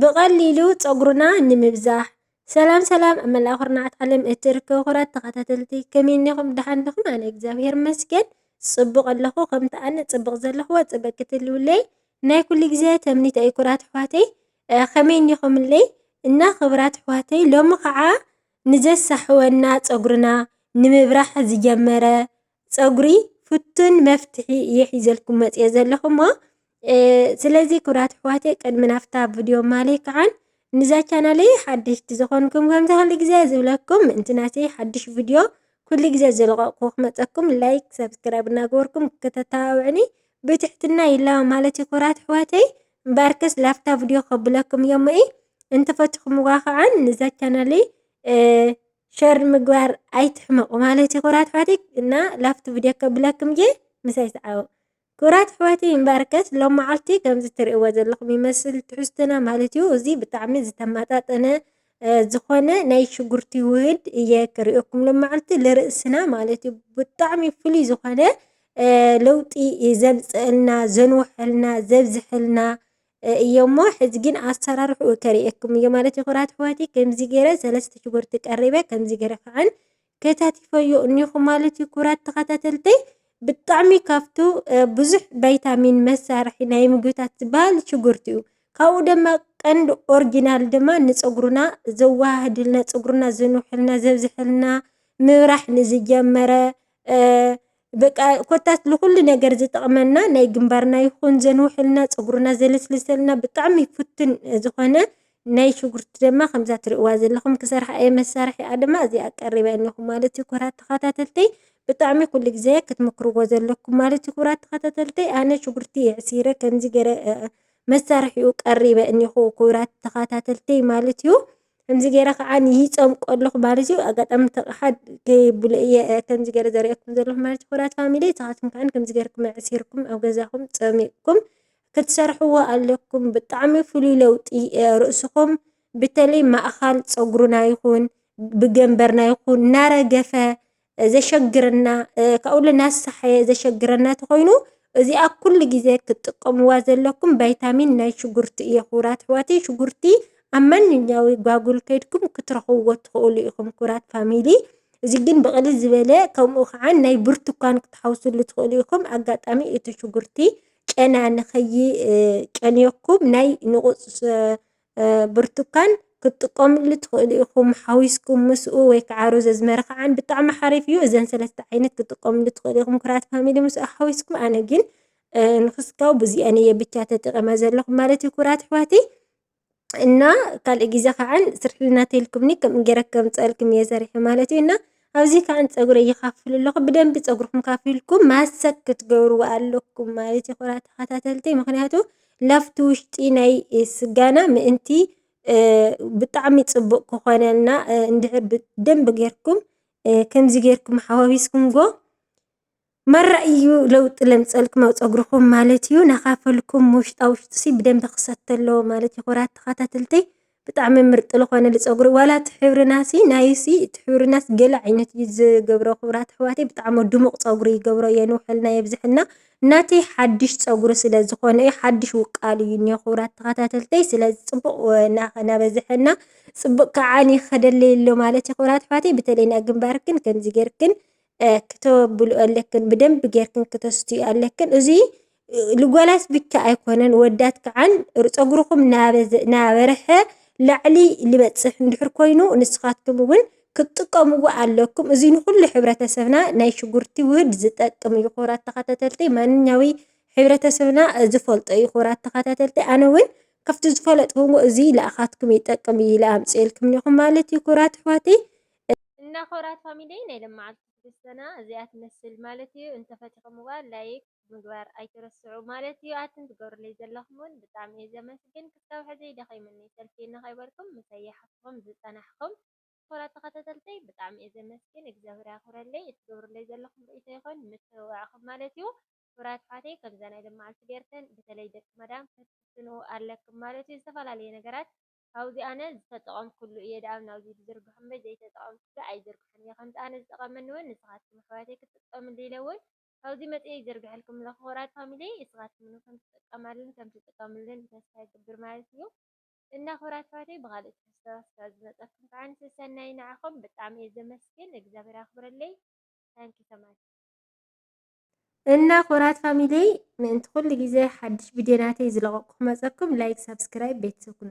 ብቐሊሉ ጸጉርና ንምብዛሕ ሰላም ሰላም ኣብ መላእ ኩርናዓት ዓለም እትርከቡ ክቡራት ተኸታተልቲ ከመይ እኒኹም ደሓን ዲኹም ኣነ እግዚኣብሔር ይመስገን ጽቡቕ ኣለኹ ከምቲ ኣነ ጽቡቕ ዘለኹ ጽብቕ ክትህልዉለይ ናይ ኩሉ ግዜ ትምኒተይ እዩ ኩቡራት ኣሕዋተይ ከመይ እኒኹምለይ እና ክቡራት ኣሕዋተይ ሎሚ ከዓ ንዘሳሕወና ጸጉርና ንምብራህ ዝጀመረ ፀጉሪ ፍቱን መፍትሒ እየ ሒዘልኩም መፅየ ዘለኹ እሞ ስለዚ ክብራት ኣሕዋተይ ቅድሚ ናፍታ ቪድዮ ማለይ ከዓን ንዛ ቻናለይ ሓደሽቲ ዝኾንኩም ከምዚ ኩሉ ግዜ ዝብለኩም ምእንቲ ናተይ ሓድሽ ቪድዮ ኩሉ ግዜ ዝለቐቕኩ ክመፀኩም ላይክ ሰብስክራይብ እናገበርኩም ከተተባብዕኒ ብትሕትና ይላቦ ማለት እዩ ክብራት ኣሕዋተይ እምበኣርከስ ላፍታ ቪድዮ ከብለኩም እዮም እይ እንተፈትኹምዋ ከዓ ንዛ ቻናለይ ሸር ምግባር ኣይትሕመቁ ማለትዩ ክብራት ኣሕዋተይ እና ላፍቲ ቪድዮ ከብለክም እየ ምሳይ ሰዓቡ ክብራት ኣሕዋተይ እምበኣርከስ ሎም መዓልቲ ከምዚ ትርእይዎ ዘለኹም ይመስል ትሕዝትና ማለትዩ እዚ ብጣዕሚ ዝተማጣጠነ ዝኾነ ናይ ሽጉርቲ ውህድ እየ ክርእየኩም ሎመዓልቲ ልርእስና ማለት እዩ ብጣዕሚ ፍሉይ ዝኾነ ለውጢ ዘምፀአልና ዘንወሐልና ዘብዝሐልና እዩ'ሞ ሕዚ ግን ኣሰራርሕኡ ከርእየኩም እየ ማለት እዩ ክቡራት ኣሕዋተይ ከምዚ ገይረ ሰለስተ ሽጉርቲ ቀሪበ ከምዚ ገይረ ከዓን ከታቲፈዮ እኒኹ ማለት እዩ ክቡራት ተኸታተልተይ ብጣዕሚ ካብቱ ብዙሕ ቫይታሚን መሳርሒ ናይ ምግብታት ዝበሃል ሽጉርቲ እዩ ካብኡ ድማ ቀንዲ ኦርጂናል ድማ ንፀጉርና ዘወሃህድልና ፀጉርና ዘንውሐልና ዘብዘሐልና ምብራሕ ንዝጀመረ በቃ ኮታስ ንኹሉ ነገር ዝጠቕመና ናይ ግንባርና ይኹን ዘንውሐልና ፀጉርና ዘለስልሰልና ብጣዕሚ ፍቱን ዝኾነ ናይ ሽጉርቲ ድማ ከምዛ ትሪእዋ ዘለኹም ክሰርሓ እየ መሳርሒኣ ድማ እዚኣ ቀሪባ እኒኹ ማለት እዩ ክቡራት ተኸታተልተይ ብጣዕሚ ኩሉ ግዜ ክትምክርዎ ዘለኩም ማለት እዩ ክቡራት ተኸታተልተይ ኣነ ሽጉርቲ የዕሲረ ከምዚ ገረ መሳርሒኡ ቀሪበ እኒኹ ክቡራት ተኸታተልተይ ማለት እዩ ከምዚ ገይረ ከዓ ንይፀምቆ ኣለኹ ማለት እዩ። ኣጋጣሚ እቲ ኣቕሓ ከየብሉ እየ ከምዚ ገይረ ዘርእየኩም ዘለኹ ማለት እዩ። ክቡራት ፋሚሊ ንስኻትኩም ከዓ ከምዚ ገይርኩም ኣዕሲርኩም ኣብ ገዛኹም ፀሚቕኩም ክትሰርሕዎ ኣለኩም። ብጣዕሚ ፍሉይ ለውጢ ርእስኹም በተለይ ማእኻል ፀጉርና ይኹን ብገምበርና ይኹን እናረገፈ ዘሸግረና ካብኡ ልናሳሓየ ዘሸግረና ተኾይኑ እዚኣ ኩሉ ግዜ ክትጥቀምዋ ዘለኩም ቫይታሚን ናይ ሽጉርቲ እየ ክቡራት ኣሕዋተይ ሽጉርቲ ኣብ ማንኛዊ ጓጉል ከድኩም ክትረኽብዎ ትኽእሉ ኢኹም ክቡራት ፋሚሊ እዚ ግን ብቕልል ዝበለ ከምኡ ከዓ ናይ ብርቱኳን ክትሓውስሉ ትኽእሉ ኢኹም ኣጋጣሚ እቲ ሽጉርቲ ጨና ንኸይጨንየኩም ናይ ንቑፅ ብርቱካን ክትጥቀምሉ ትኽእሉ ኢኹም ሓዊስኩም ምስኡ ወይ ከዓ ሮዘ ዝመረኸዓን ብጣዕሚ ሓሪፍ እዩ። እዘን ሰለስተ ዓይነት ክትጥቀምሉ ትኽእሉ ኢኹም ክራት ፋሚሊ ምስ ሓዊስኩም ኣነ ግን ንክስካው ብዚኣን እየ ብቻ ተጠቐመ ዘለኹ ማለት እዩ ኩራት ኣሕዋተይ እና ካልእ ግዜ ከዓ ስርሕልና ተልኩምኒ ከምኡ ገይረ ከምፀልኩም እየ ሰሪሐ ማለት እዩ እና ኣብዚ ካን ፀጉረይ ይካፍል ኣለኩ ብደንቢ ፀጉርኩም ከፊልኩም ማሰክ ክትገብርዎ ኣለኩም ማለት እዩ ክቡራት ተከታተልቲ ምክንያቱ ላብቲ ውሽጢ ናይ ስጋና ምእንቲ ብጣዕሚ ፅቡቅ ክኮነልና እንድሕር ብደንቢ ጌርኩም ከምዚ ጌርኩም ሓዋዊስኩምዎ ማራ እዩ ለውጢ ለምፀልኩም ኣብ ፀጉርኩም ማለት እዩ ናካፈልኩም ውሽጣ ውሽጡሲ ብደንቢ ክሰቲ ኣለዎ ማለት እዩ ክብራት ተካታተልተይ ብጣዕሚ ምርጥ ልኮነ ልፀጉሪ ዋላ እቲ ሕብርናሲ ናይሲ እቲ ሕብርናስ ገለ ዓይነት እዩ ዝገብሮ ክብራት ኣሕዋተይ ብጣዕሚ ድሙቅ ፀጉሪ ይገብሮ የንውሐልና የብዘሐልና ናተይ ሓድሽ ፀጉሪ ስለ ዝኮነ እዩ ሓድሽ ውቃል እዩ እንሆ ክብራት ተካታተልተይ ስለዚ ፅቡቅ ናበዘሐና ፅቡቅ ካዓ ንክከደለይ ኣሎ ማለት እዩ ክብራት ኣሕዋተይ በተለይ ናይ ግንባርክን ከምዚ ገይርክን ክተብልኦ ኣለክን ብደንቢ ጌርክን ክተስትዮ ኣለክን እዚ ልጓላት ብቻ ኣይኮነን ወዳት ክዓን ፀጉርኹም ናበረሐ ላዕሊ ልበፅሕ እንድሕር ኮይኑ ንስኻትኩም እውን ክትጥቀምዎ ኣለኩም እዚ ንኹሉ ሕብረተሰብና ናይ ሽጉርቲ ውህድ ዝጠቅም እዩ ክቡራት ተኸታተልቲ ማንኛዊ ሕብረተሰብና ዝፈልጦ እዩ ክቡራት ተኸታተልቲ ኣነ እውን ካብቲ ዝፈለጥኩዎ እዚ ልኣኻትኩም ይጠቅም እዩ ኢለ ኣምፂኤልኩም እኒኦ ማለት እዩ ክቡራት ኣሕዋተይ እና ክብራት ፋሚሊየይ ናይ ለማዓልቲ ትግስትና እዚኣ ትመስል ማለት እዩ እንተ ፈቲክምዋ ላይክ ምግባር ኣይትረስዑ ማለት እዩ ኣትን ትገብርለይ ዘለኩም ውን ብጣዕሚ እየ ዘመስግን ክሳብ ሕዚ ደኪምኒ ሰልችየኒ ከይበልኩም ምሳይ ይሓፍትኩም ዝፀናሕኩም ክብራት ተከታተልተይ ብጣዕሚ እየ ዘመስግን እግዚኣብሔር ያክብረለይ እቲ ትገብርለይ ዘለኩም ሪኢቶ ይኩን ምትብባዕኩም ማለት እዩ ክብራት ኣሕዋተይ ከምዛ ናይ ለማዓልቲ ገይርከን ብተለይ ደቂ መዳም ፈትፍትንኡ ኣለክም ማለት እዩ ዝተፈላለየ ነገራት ካብዚ ኣነ ዝተጠቐምኩሉ እየ ደኣም ናብዚ ድዝርግሑ እምበይ ዘይተጠቐምኩሉ ኣይዝርግሕን እየ ከምቲ ኣነ ዝጠቐመኒ ውን ንስኻትኩም ኣሕዋተይ ክትጥቀምሉ ኢለ ውን ካብዚ መፂኤ ይዝርግሐልኩም ኣለኹ ክቡራት ፋሚሊየይ እስኻትኩም ውን ከምትጠቀማሉን ከምትጥቀምሉን ተስፋ ይገብር ማለት እዩ እና ክቡራት ኣሕዋተይ ብኻሊእ ትሕዝቶ እስከ ዝመፀኩም ክዓኒ ሰሰናዩ ንዓኹም ብጣዕሚ እየ ዘመስግን እግዚኣብሔር ኣኽብረለይ Thank you so much እና ክቡራት ፋሚሊየይ ምእንቲ ኩሉ ግዜ ሓድሽ ቪድዮ ናተይ ዝለቐቕኩ ክመፀኩም ላይክ ሳብስክራይብ ቤተሰብ ኩኑ